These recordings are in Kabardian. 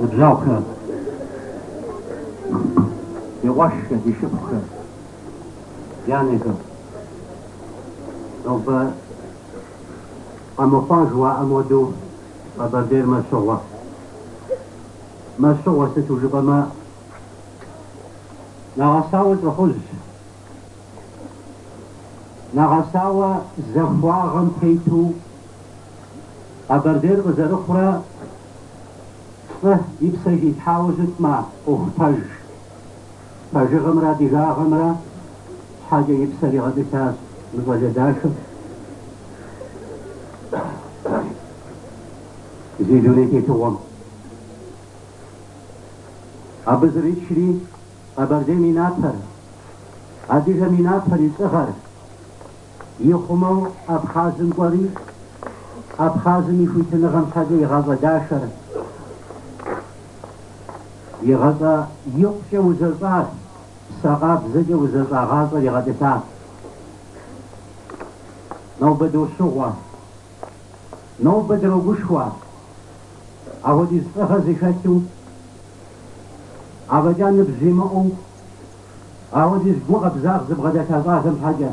Ныбжьэгъухэ, ди къуэшхэ, ди шыпхъухэ, ди анэхэ. Нобэ къэмыхъуа жыхуаӏэм хуэдэу Къэбэрдейр мэщыгъуэ. Мэщыгъуэ сыту жыпӏэмэ, нэгъэсауэ лӏыхъужь. Нэгъэсауэ захуагъэм тету Къэбэрдейр къызэрыхъурэ лӏы и псэ хилъхьауэ щытмэ, ӏуэху пэж. Пэжыгъэмрэ адыгагъэмрэ щхьэкӏэ и псэр игъэтӏылъащ мы щӏалэ дахэр. Зи дуней тетыгъуэм абы зэричри. Къэбэрдейм и напэр, адыгэм и напэр и лӏыгъэр ихъумэу Абхъазым кӏуэри, Абхъазым и хуитыныгъэм щхьэкӏэ и гъащӏэ дахэр, и гъащӏэ икъукӏэ узэщӏар, псэ къабзэкӏэ узэщӏа гъащӏэр игъэтӏылъащ. Нобэ дощыгъуэ, нобэ дрогушхуэ, апхуэдиз лӏыгъэ зыхэлъу Афӏэкӏа ныбжь зимыӏэу апхуэдиз гу къабзагъ зыбгъэдэлъа щӏалэм щхьэкӏэ.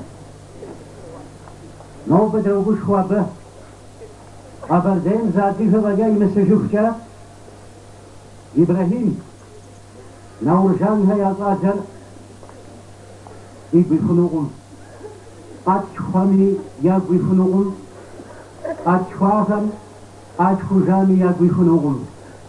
Нобэ дрогушхуэ абы. Къэбэрдейм зы адыгэ фӏэкӏа имысыжыхукӏэ, Ибрэхьим, Науржанхэ я щӏалэр игу ихунукъым, къалъхухэми ягу ихунукъым, къалъхуахэм къалъхужами ягу ихунукъым.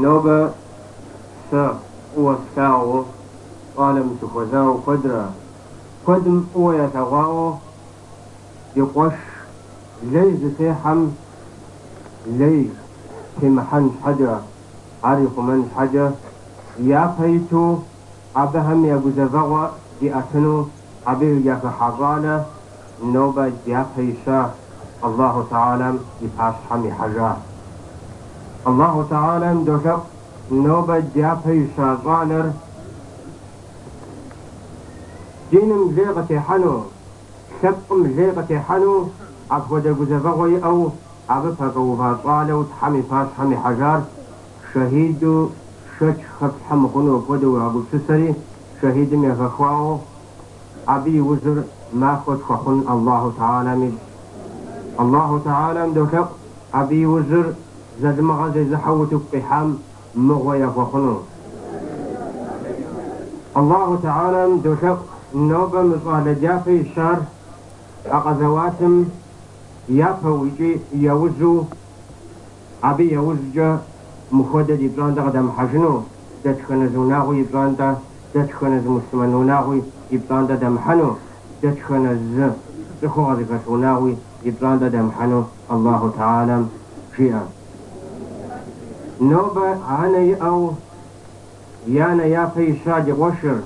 Нобэ сэ фӏыуэ слъагъуу щӏалэм сыхуэзауэ куэдрэ, куэдым фӏыуэ ялъэгъуауэ и къуэш лей зытехьэм лей темыхьэн щхьэкӏэ, ар ихъумэн щхьэкӏэ, япэ иту абыхэм я гузэвэгъуэ диӏэтыну Абы яхыхьа щӏалэ нобэ дяпэ ища Аллаху тэхьэлам и пащхьэм ихьэжа. Аллаху тэхьэлам долъэӏу нобэ дяпэ ища щӏалэр диным лей къытехьэну, лъэпкъым лей къытехьэну апхуэдэ гузэвэгъуэ иӏэу абы пэкӏуэува щӏалэу Тхьэм и пащхьэм ихьэжар шэхьиду шэч хэплъхьэ мыхъуну хуэдэу уегъэгупсысэри, шэхьидым яхэхуауэ, абы и ужьыр махуэ тхуэхъун Аллаху Тхьэлам ищӏ. Аллаху Тхьэлам долъэӏу абы и ужьыр залымыгъэ зезыхьэу утыку къихьам мыгъуэ яхуэхъуну. Аллаху Тхьэлам долъэӏу нобэ мы щӏалэ дяпэ ищар а къэзэуатым япэу икӏи яужьу, Абы яужькӏэ мыхуэдэ ди пщӏантӏэ къыдэмыхьэжыну, дэтхэнэ зы унагъуи и пщӏантӏэ, дэтхэнэ зы муслъымэн унагъуи и пщӏантӏэ дэмыхьэну, дэтхэнэ зы цӏыхугъэ зыхэлъ унагъуи и пщӏантӏэ дэмыхьэну Аллаху тхьэлэм жиӏэ. Нобэ анэ иӏэу и анэ япэ ища ди къуэшыр,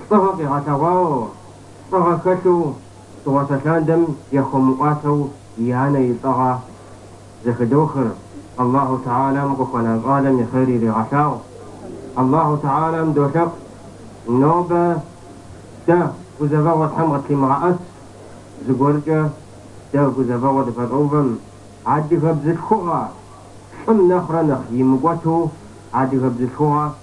лӏыгъэ къигъэлъэгъуауэ, лӏыгъэ хэлъу, Дыгъуасэ лъандэм яхуэмыӏуатэу и анэ и лӏыгъэ зэхыдохыр, Аллахьу тхьэлам къыхуэна щӏалэм и хъер иригъэлъагъу. Аллахьу тхьэлам долъэӏу, Нобэ дэ гузэвэгъуэ Тхьэм къытлъимыгъэӏэс, зыгуэркӏэ дэ гузэвэгъуэ дыпэщӏэувэм. Адыгэ бзылъхугъэ лӏым нэхърэ нэхъ имыкӏуэту адыгэ бзылъхугъэ.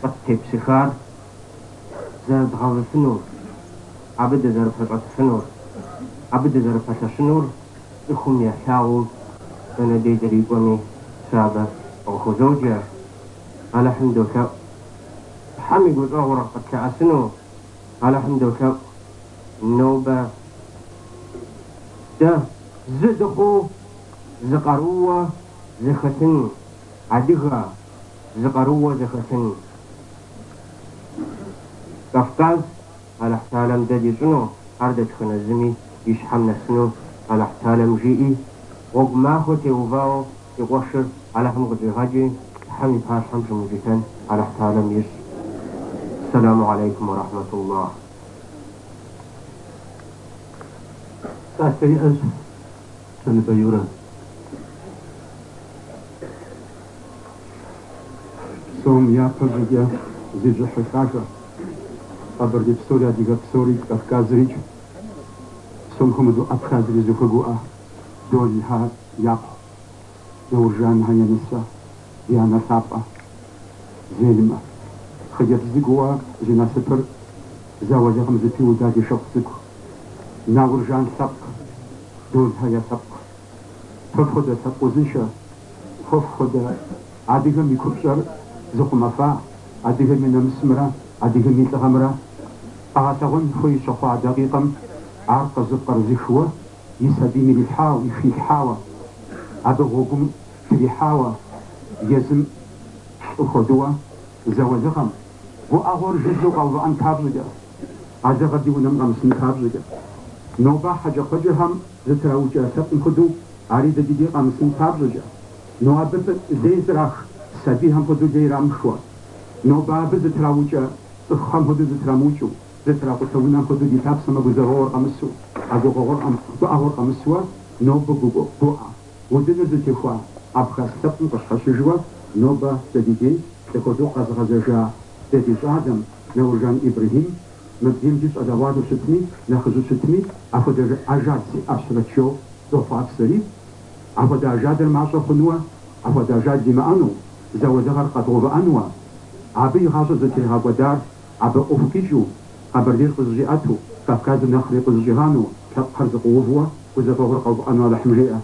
къыттепсыхар зэрыдгъэвыфынур, абы дызэрыпэщӏэтыфынур, абы дызэрыпэлъэщынур цӏыхум ялъагъуу дэнэ дей дрикӏуэми сэ абы къыхузоджэ. Алыхьым долъэӏу Тхьэм и гущӏэгъур къытлъэӏэсыну, Алыхьым долъэӏу нобэ дэ зы дыхъуу, зы къарууэ зэхэтыну. Адыгэ зы къарууэ зэхэтын Кавказ Алыхьталэм дэ дищӏыну, ар дэтхэнэ зыми и щхьэм нэсыну Алыхьталэм жиӏи, гъуэгу махуэ теувауэ си къуэшыр Алыхьым къыщӏигъэкӏи, Тхьэм и пащхьэм щымыукӏытэн Алыхьталэм ищӏ. Ссэлэму алейкум уэ рахьмэтуллах. Псалъэ иӏэщ. Щэныбэ Юрэ. Псом япэ щӏыкӏэ зищӏыхьы лӏакӏуэ. Къэбэрдей псори, адыгэ псори, Кавказрикӏ псом хуэмыдэу Абхазри зыхуэгуӏэ. Долхэ япхъу, Науржанхэ я нысэ, ди анэ лъапӏэ. Зельмэ. Хъыджэбз цӏыкӏууэ зи насыпыр зауэлэкъым зэпиуда ди шыпхъу цӏыкӏу. Науржан лъэпкъ. долъхьэ я лъэпкъ. Фэ фхуэдэ лъэпкъ узыншэ, фэ фхуэдэ адыгэм и купщӏэр зыхъумэфа, адыгэм и нэмысымрэ адыгэм и лӏыгъэмрэ къэгъэлъэгъуэн хуей щыхъуа дакъикъэм ар къызыпкърызышуэ, и сабийм ирилъхьауэ, ихилъхьауэ, абы гъуэгум трихьауэ, езым лӏы хуэдыуэ зауэлыгъэм гуӏэгъуэр жыжьэу къэувыӏэн папщӏэкӏэ. А лыгъэр ди унэм къэмысын папщӏэкӏэ. Нобэ хьэкӏэкхъуэкӏэхэм зэтраукӏэ лъэпкъым хуэдэу ари дэ ди дей къэмысын папщӏэкӏэ. Нобэ лей зрах сабийхэм хуэдэу лей ирамыхыуэ. Нобэ абы зэтраукӏэ цӏыхухэм хуэдэу зэтрамыукӏыу, зэтракъутэ унэм хуэдэу ди лъапсэм а гузэвэгъуэр къэмысу, а гугъэгъуэр, гуӏэгъуэр къэмысуэ нобэ гуӏэ удыныр зытехуа абхъаз лъэпкъым къыщхьэщыжыуэ нобэ дэ ди дей лӏы хуэдэу къэзыгъэзэжа дэ ди щӏалэм, Науржан Ибрэхьим, мыбдем ди щӏалэгъуалэу щытми, нэхъыжьу щытми, апхуэдэ ажал сиӏащэрэт жиӏэу дохъуапсэри. Апхуэдэ ажалыр мащӏэ хъунуэ, апхуэдэ ажал димыӏэну, зауэлыгъэр къэдгъэувыӏэнуэ. Абы и гъащӏэр зытригъэкӏуэдар, абы ӏуэху къикӏыу, Къэбэрдейр къызыщӏиӏэту, Кавказыр нэхъри къызыщӏигъанэу, лъэпкъхэр зыкъыувуэ, гузэвэгъуэр къэувыӏэну Алыхьым жиӏэ.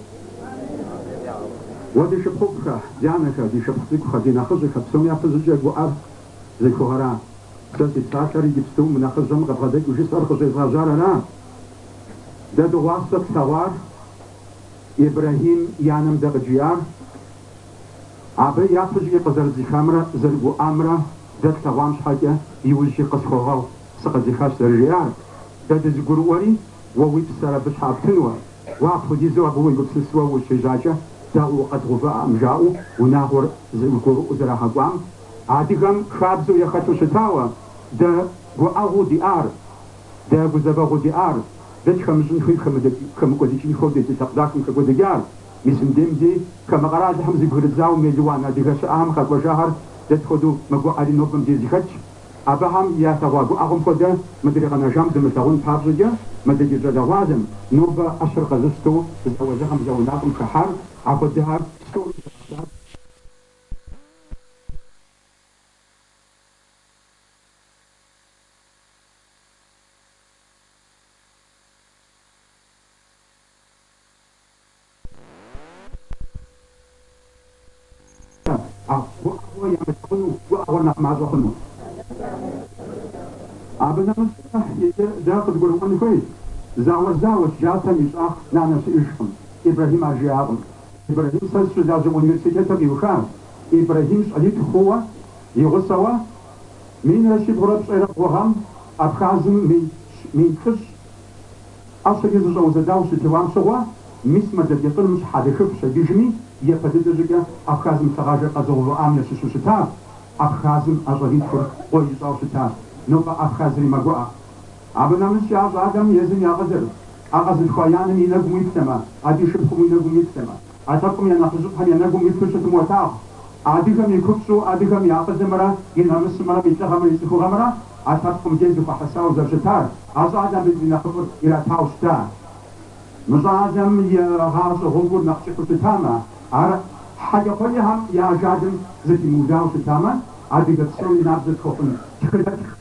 Уэ ди шыпхъуфӏхэ, ди анэхэ, ди шыпхъу цӏыкӏухэ, ди нэхъыжьхэ, псоми япэщӏыкӏэ гуӏэр. Зыхугъэра? Сэ си псалъэр иджыпсту мы нэхъыжьым къыбгъэдэкӏыу жысӏэр къыщӏезгъэжьар ара? Дэ дыгъуасэ тлъэгъуар Ибрэхьим и анэм дэ къыджиӏар? Абы япэщӏыкӏэ къызэрыдзыхамрэ зэрыгуӏамрэ дэ тлъэгъуам щхьэкӏэ иужькӏи къысхуэгъэгъу, сыкъэдзыхащ зэрыжиӏар. Дэ дызыгурыӏуэри, уэ уи псэр абы щхьэкӏэ птынуэ. Уэ апхуэдизу абы уегупсысуэ ущежьакӏэ, дэ укъэдгъэувыӏэкъым жаӏэу унагъуэр зыгурыӏуэу зэрагъэкӏуам? Адыгэм хабзэу яхэлъу щытауэ, дэ гуӏэгъуу диӏар, дэ гузэвэгъуу диӏар, дэ тхэмыщӏын хуей, хэмыкӏуэдыкӏын хуейуэ ди лъэпкъ дахэм хэкӏуэдыкӏар, мис мыбдем ди хамэ къэралхэм зэбгрыдзауэ мелуан адыгэ щыӏэхэм къэкӏуэжахэр дэ тхуэдэу мэгуӏэри нобэ мыбдеж зэхэтщ. Абыхэм ялъэгъуа гуӏэгъуэм хуэдэ мыдрей къэнэжам зымылъэгъун папщӏэкӏэ мыдэ ди щӏалэгъуалэм нобэ ӏэщэр къэзыщтэу зауэлыгъэм зауэ ӏэнатӏэм хыхьар, апхуэдэхэр псори. Гуӏэгъуэ ямылъагъуну гуӏэгъуэр нэхъ мащӏэ хъуну? Абы нэмыщӏ дэ иджы дэ къыдгурыӏуэн хуейщ, зауэр зауэщ, джатэм и щӏагъ нанэ щыӏэжкъым, Ибрэхьим ар жиӏакъым. Ибрэхьим сэ сыщылажьэ университетыр къиуха Ибрэхьим щӏалитху хъууэ, и гъусэуэ, минрэ щибгъурэ пщӏейрэ бгъу гъэм Абхазым мин плӏыщӏ ӏэщэкӏэ зыщӏэузэдауэ щытеуам щыгъуэ, мис мэлэдетӏыным щхьэлыхыф щедыжми, япэ дыдэ щӏыкӏэ Абхазым лъыгъажэр къэзыгъэувыӏам ящыщу щытащ. Абхазым а щӏалитхур къуэ ищӏауэ щытащ. Нобэ Абхазри мэгуӏэ. Абы нэмыщӏ а щӏалэм езым и акъылыр, а къэзылъхуа и анэм и нэгум уиплъэмэ, абы и шыпхъум и нэгум уиплъэмэ, а лъэпкъым я нэхъыжьыфӏхэм я нэгум уиплъу щытмэ уолъагъу адыгэм и купщӏу адыгэм и акъылымрэ и намысымрэ и лӏыгъэмрэ и цӏыхугъэмрэ а лъэпкъым дей зыхуэхьэсауэ зэрыщытар, а щӏалэм абы и нэхъыфӏыр иратауэ щыта. Мы щӏалэм и гъащӏэ гъуэгур нэхъ кӏыхьу щытамэ, ар хьэкӏэкхъуэкӏэхэм я ажалым зэпимыудауэ щытамэ, адыгэ псори набдзэ тхуэхъун тхыдэтх.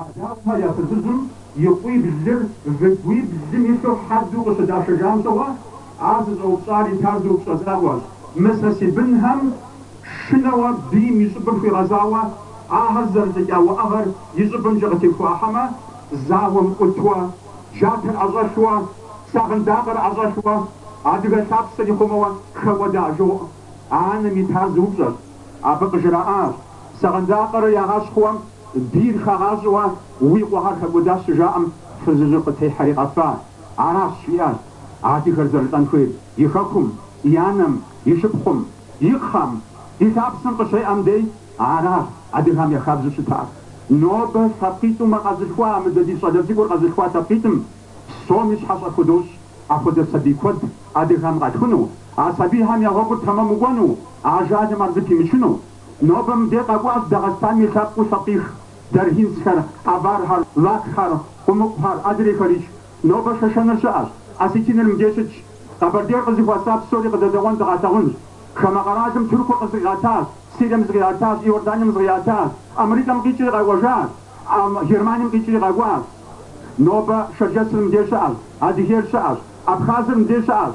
Адаухэ я фызыжьым и къуиблыр выгуиблым илъу хьэдэу къыщыдашэжам щыгъуэ, ар зыщӏэупщӏар итар зы упщӏэ закъуэщ. Мы сэ си бынхэм шынэуэ бийм и щӏыбыр хуигъэзауэ, ахэр зэрылӏыкӏа уӏэгъэр и щӏыбымкӏэ къытехуахьэмэ, зауэм ӏутуэ, джатэр ӏэщӏэлъуэ, сагъындакъэр ӏэщӏэлъуэ, адыгэ лъапсэр ихъумэуэ хэкӏуэда жоӏэ. Анэм итар зы упщӏэщ. Абы къыжраӏащ, сагъындакъэр ягъэщхъуэм Бийр хагъащӏэуэ уи къуэхэр хэкӏуэдащ щыжаӏэм, фызыжьыр къытехьэри къэфа. Аращ, жиӏащ, адыгэр зэрылӏэн хуейр и хэкум, и анэм, и шыпхъум, и кхъэм, и лъапсэм къыщеӏэм дей. Аращ адыгэм я хабзэу щытар. Нобэ лъэпкъитӏумэ къэзылъхуа а мыдэ ди щӏалэ цӏыкӏур къэзылъхуа лъэпкъитӏым псоми щхьэщэ худощӏ апхуэдэ сабий куэд адыгэм къалъхуну, а сабийхэм я гъуэгур тэмэму кӏуэну, ажалым ар зыпимычыну. Нобэ мыбдеж къэкӏуащ Дагъыстан и лъэпкъыу Сатих, даргинцхэр, авархэр, лакхэр, къумыкъухэр, адрейхэрикӏ. Нобэ шэшэныр щыӏэщ, осетиныр мыбдеж щытщ. Къэбэрдейр къызыхуэса псори къыдэдэӏуэн дыкъалъагъунщ. Хамэ къэралым Тыркур къы зыкъиӏэтащ, Сирием зыкъиӏэтащ, Иорданием зыкъиӏэтащ, Амрикэм къикӏри къэкӏуэжащ, Германием къикӏри къэкӏуащ. Нобэ шэрджэсыр мыбдеж щыӏэщ, Адыгейр щыӏэщ, Абхазыр мыбдеж щыӏэщ.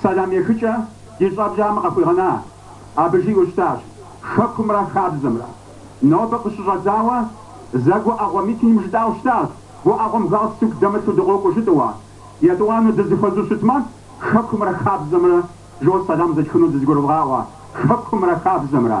Сэлам ехыкӏэ ди щӏэблэм къыхуигъэна, абы жиӏэу щытащ Хэкумрэ хабзэмрэ. Нобэ къыщыщӏэдзауэ зэ гуӏэгъуэ митинг жытӏауэ щытащ, гуӏэгъуэм галстук дэмылъу дыкъокӏуэ жытӏэуэ. Етӏуанэу дызыхуэзэу щытмэ, Хэкумрэ хабзэмрэ, жо сэлам зэтхыну дызэгурывгъаӏуэ, Хэкумрэ хабзэмрэ.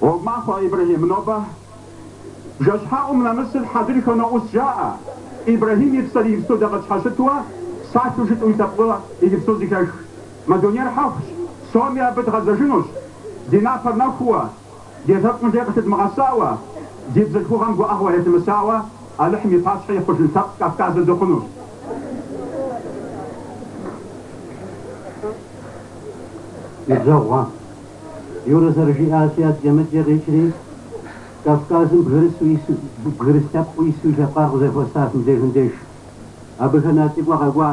Гъуэгу махуэ, Ибрэхьим, нобэ бжэщхьэӏум нэмысыр хьэдрыхэ ноӏус жаӏэ. Ибрэхьим и псэр иджыпсту дэ къытщхьэщытуэ, псалъэу жытӏэу и лъэпкъыр иджыпсту зэхех. Мы дунейр хьэхущ, псоми абы дгъэзэжынущ. Ди напэр нэхууэ, ди лъэпкъым лей къылъыдмыгъэсауэ, ди бзылъхугъэм гуӏэгъуэ етымысауэ Алыхьым и пащхьэ ихьэжын лъэпкъ Кавказыр дыхъунущ. Ныбжьэгъугъэ. Юрэ зэрыжиӏащи, адэкӏэ-мыдэкӏэ къикӏри, Кавказым бгырыс лъэпкъыу ису и лъэпкъар къызэхуэсащ мыбдежым деж. Абыхэм я лӏыкӏуэ къэкӏуа.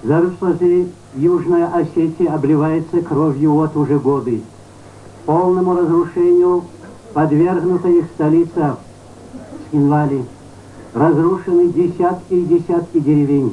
Зэрыфщӏэщи, Южная Осетия обливается кровью вот уже годы. Полному разрушению подвергнута их столица Цхинвали. Разрушены десятки и десятки деревень.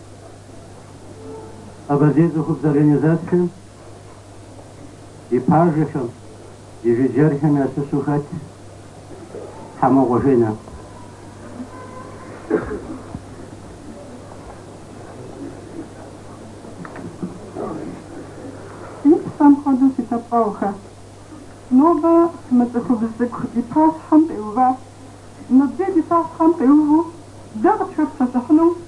Къэбэрдей цӏыхубз организацэм и пажэхэм, и жыджэрхэм ящыщу хэт Хьэмокъуэ Женэ. Си псэм хуэдэу си лъэпкъэгъухэ. Нобэ мы цӏыхубз цӏыкӏу ди пащхьэм къиуващ. Нобэ дэ ди пащхьэм къиуву дэ къытхуепсэлъыхьыну?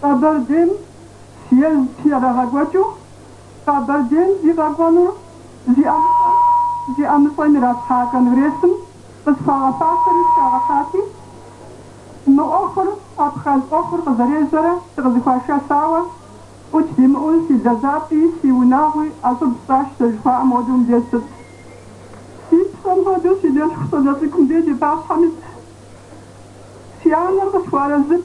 Къэбэрдейм съезд ерагъэкӏуэкӏыу Къэбэрдейм зи къэкӏуэнур зи ӏэмыщӏэм, зи ӏэмыщӏэм иралъхьа конгрессым къысхуагъэфащэри сыхагъэхьати, мы ӏуэхур, абхъаз ӏуэхур къызэрежьэрэ сыкъызыхуашэсауэ, ӏут димыӏэу си лэжьапӏи, си унагъуи ӏэщӏыб сщӏащ сэ жыхуаӏэм хуэдэу мыбдеж ситщ. Си псэм хуэдэу си дэлъху щӏалэ цӏыкӏу мыбдеж ди пащхьэм итщ. Си анэр къысхуэарэзыт.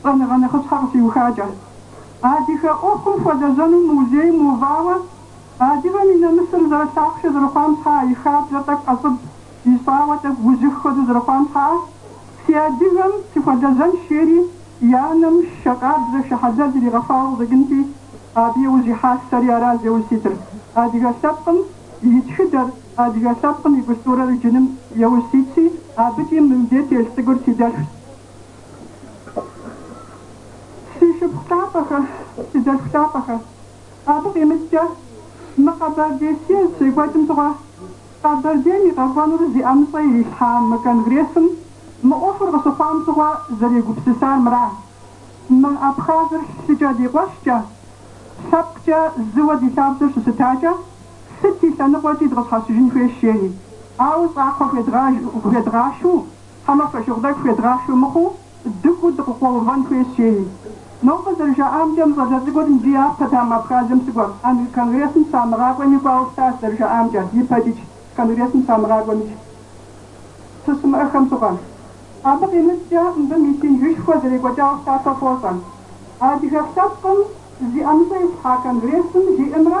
Щӏэныгъэ нэхъыщхьэ къыщиухакӏэ, адыгэ ӏуэхум хуэлэжьэну музейм увауэ, адыгэм и нэмысыр зэрылъахъшэ зэрыхъуам щхьэа и хабзэр тӏэкӏу ӏэщӏыб ищӏауэ тӏэкӏу ужьых хуэдэу зэрыхъуам щхьэа, си адыгэм сыхуэлэжьэнщ жери и анэм шэ къабзэ, шэ хьэлэл иригъэфауэ къыщӏэкӏынти, абы еужь ихьащ сэри аращ зеужь ситыр. Адыгэ лъэпкъым и тхыдэр, адыгэ лъэпкъым и культурэр иджыным еужь ситщи, абыкӏи мымдей щӏалэ цӏыкӏур си дэлъхущ. Си шыпхъу лъапӏэхэ, си дэлъху лъапӏэхэ. Абы къимыщӏкӏэ, мы Къэбэрдей съезд щекӏуэкӏым щыгъуэ Къэбэрдейм и къэкӏуэнур зи ӏэмыщӏэ ирилъхьа мы конгрессым мы ӏуэхур къыщыхъуам щыгъуэ зэрегупсысар мыра? Мы Абхазыр лъыкӏэ ди къуэшкӏэ, лъэпкъкӏэ зыуэ ди лъабжьэр щыщытакӏэ, сыт и лъэныкъуэкӏи дыкъыщхьэщыжын хуейщ, жери. Ауэ щӏакхъуэ хуедгъэшу. Хьэмэ фошыгъу тӏэкӏу хуедгъахьу мыхъуу, дыкӏуу дыкъыкъуэувэн хуейщ, жери. Нобэ зэрыжаӏамкӏэ, мы щӏалэ цӏыкӏур икӏи япэт ам Абхазым щыкӏуэм, ар конгрессым щамыгъакӏуэми кӏуауэ щытащ, зэрыжаӏамкӏэ, и пэкӏыкӏ конгрессым щамыгъакӏуэмикӏ щыщымыӏэхэм щыгъуэ. Абы къимыщӏкӏэ, мыбы митингышхуэ зэрекӏуэкӏауэ щытащ, ар фощӏэ. Адыгэ лъэпкъым зи ӏэмыщӏэ итлъхьа конгрессым жиӏэмрэ,